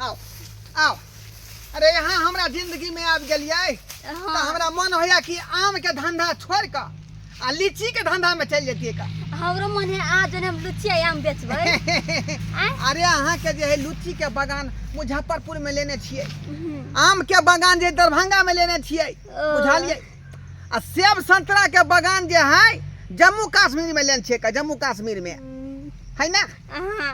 आओ आओ अरे यहाँ हमरा जिंदगी में आबि गेलियै तऽ हाँ हमरा मन होइया कि आम के धंधा छोड़ कऽ आ लीची के धंधा में चलि जतियै का हमरो मन है आज जने हम लुचिया आम बेचबै आय अरे अहाँ के जे है लीची के बगान मुजफ्फरपुर में लेने छियै हम्म, आम के बगान जे दरभंगा में लेने छियै ओ। बुझलियै आ सेब संतरा के बगान जे है जम्मू कश्मीर में लेने छियै का जम्मू कश्मीर में हम्म, है ना हाँ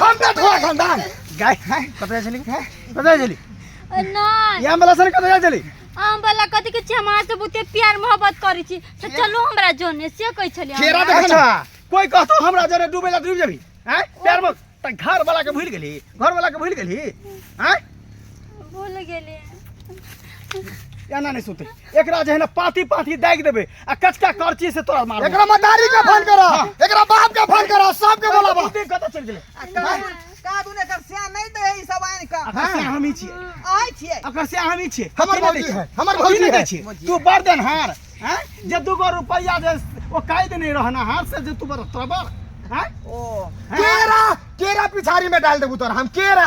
हम पे ठोआ खानदान गाय है कतरा चली है कतरा चली नहीं या मला सर कतरा चली हम वाला कथी के छी हमरा से बहुते प्यार मोहब्बत करै छी से चलो हमरा जोने से कहै छलियै केरा हमरा। देख ना कोई कहतो हमरा जरे डूबे ला डूब जाबी हैं प्यार में त घर वाला के भूल गेली घर वाला के भूल गेली हैं भूल गेलियै एना नहीं सुते एकरा जे है ना पाती पाती दागि देबे आ कचका करची से तोरा मार एकरा मदारी के फोन करो एकरा बाप के फोन करो सब के बोलाबो बुद्धि कतऽ चलि गेलै का तू ने कर सिया नहीं दे ई सब आइन का अकर से हम ही छियै आइ छिए अकर से हम ही छियै हमर की नहि भौजी दै है, छियै? हमर की भौजी नहि दै है। छियै? तू बड़ देनहार हैं जे दू गो रुपैया जे ओ काहि देने रहनहार से जे तू बड़ तोरा बड़ हैं ओ केरा केरा पिछाड़ी में डाल देबू तोरा हम केरा